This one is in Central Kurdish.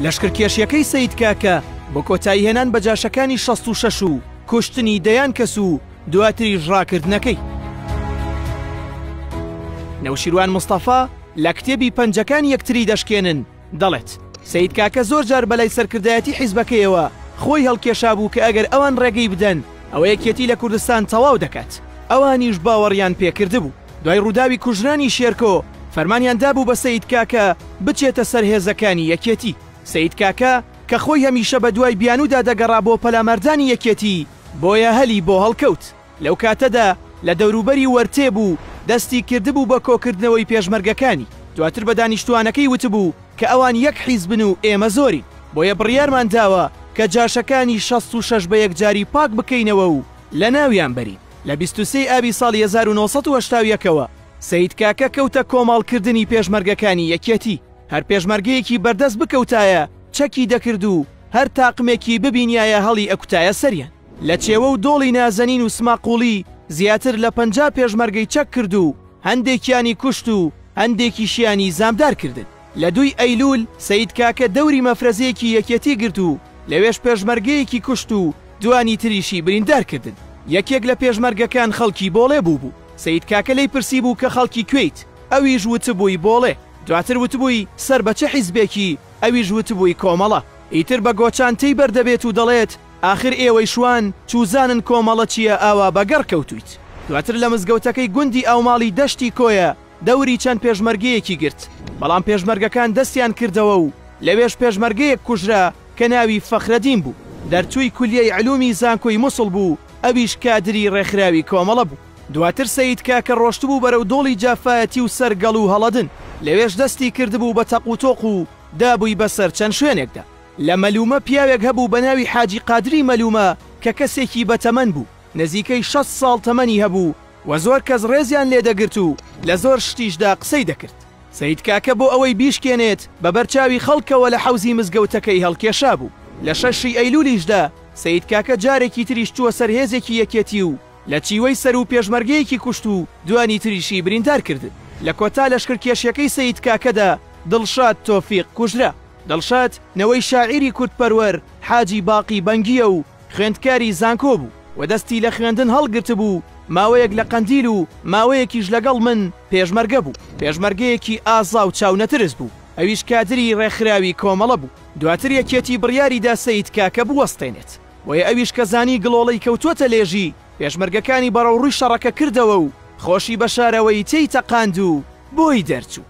لەشکرکێشیەکەی سەید کاکە بۆ کۆتایی هێنان بە جاشەکانی 66 و کوشتنی دەیان کەس و دواتریش ڕاکردنەکەی نەوشیروان مستەفا لە کتێبی پەنجەکان یەکتری دەشکێنن دەڵێت سید کاکە زۆر جار بەلای سەرکردایەتی حیزبەکەیەوە خۆی هەڵکێشا بوو کە ئەگەر ئەوان ڕێگەی بدەن ئەوە یەکێتی لە کوردستان تەواو دەکات ئەوانیش باوەڕیان پێکردبوو دوای ڕووداوی کوژرانی شێرکۆ، فەرمانیان دابوو بە سەید کاکە بچێتە سەر هێزەکانی یەکێتی. سەید کاکە کە خۆی هەمیشە بە دوای بیانوودا دەگەڕا بۆ پەلاماردانی یەکێتی، بۆیە هەلی بۆ هەڵکەوت. لەو کاتەدا لە دەوروبەری وەرتێ بوو، دەستی کردبوو بە کۆکردنەوەی پێشمەرگەکانی. دواتر بە دانیشتووانەکەی وتبوو کە ئەوان یەک حیزبن و ئێمە زۆرین، بۆیە بڕیارمان داوە کە جاشەکانی شەست و شەش بە یەکجاری پاک بکەینەوە و لە ناویان بەرین. لە بیست و سێ ی ئابی ساڵی هەزار و نۆ سەد و هەشتا و یەک ەوە سەید کاکە کەوتە کۆمەاڵ کردنی پێشمەرگەکانی یەکێتی، هەر پێشمەرگەیەکی بەردەست بکەوتایە چەکی دەکرد و هەر تاقمێکی ببینیایە هەڵی ئەکوتایە سەریان. لە چێوە و دۆڵی نازەنین و سماقوڵی زیاتر لە پەنجا پێشمەرگەی چەک کرد و هەندێکیانی کوشت و هەندێکیشیانی زامدار کردن. لە دووی ئەیلوول سەید کاکە دەوری مەفرەزەیەکی یەکێتی گرت و لەوێش پێشمەرگەیەکی کوشت و دووانی تریشی بریندار کردن. یەکێک لە پێشمەرگەکان خەڵکی بۆڵێ بووبوو. سەید کاکە لێی پرسیبوو کە خەڵکی کوێیت؟ ئەویش وتبووی بۆڵێ. دواتر وتبووی سەر بە چ حیزبێکی؟ ئەویش وتبووی کۆمەڵە. ئیتر بە گۆچان تێی بەر دەبێت و دەڵێت ئاخر ئێوەی شوان چووزانن کۆمەڵە چییە ئاوا بە گەڕ کەوتوویت. دواتر لە مزگەوتەکەی گوندی ئاوماڵی دەشتی کۆیە دەوری چەند پێشمەرگەیەکی گرت، بەڵام پێشمەرگەکان دەستیان کردەوە و لەوێش پێشمەرگەیەک کوژرا کە ناوی فەخرەدین بوو، دەرچووی کولیەی علومی زانکۆی موسڵ بوو، ئەویش کادری ڕێکخراوی کۆمەڵە بوو. دواتر سەید کاکە ڕۆشتبوو بەرەو دۆڵی جافایەتی و سەر گەڵ و هەڵەدن، لەوێش دەستی کردبوو بە تەق و تۆق و دابووی بەسەر چەند شوێنێکدا. لە مەلومە پیاوێک هەبوو بە ناوی حاجی قادری مەلومە کە کەسێکی بەتەمەن بوو، نزیکەی شەست ساڵ تەمەنی هەبوو، و زۆر کەس ڕێزیان لێ دەگرت و لە زۆر شتیشدا قسەی دەکرد. سەید کاکە بۆ ئەوەی بیشکێنێت بە بەر چاوی خەڵکەوە لە حەوزی مزگەوتەکەی هەڵکێشابوو. لە شەش ی ئەیلولیشدا سەید کاکە جارێکی تریش چووە سەر هێزێکی یەکێتی و لە چیوەی سەر و پێشمەرگەیەکی کوشت و دوانی تریشی بریندار کردن. لە کۆتا لەشکرکێشیەکەی سەید کاکەدا دڵشاد تۆفیق کوژرا. دڵشاد نەوەی شاعیری کوردپەروەر حاجی باقی بەنگییە و، خوێندکاری زانکۆ بوو و دەستی لە خوێندن هەڵگرتبوو، ماوەیەک لە قەندیل و ماوەیەکیش لەگەڵ من پێشمەرگە بوو، پێشمەرگەیەکی ئازا و چاونەترس بوو، ئەویش کادری ڕێکخراوی کۆمەڵە بوو، دواتر یەکێتی بڕیاریدا سەید کاکە بوەستێنێت، بۆیە ئەویش کە زانی گڵۆڵەی کەوتووەتە لێژی، پێشمەرگەکانی بەڕەوڕووی شەڕەکە کردەوە و خۆشی بە شارەوەیی تێی تەقاند و بۆی دەرچوو.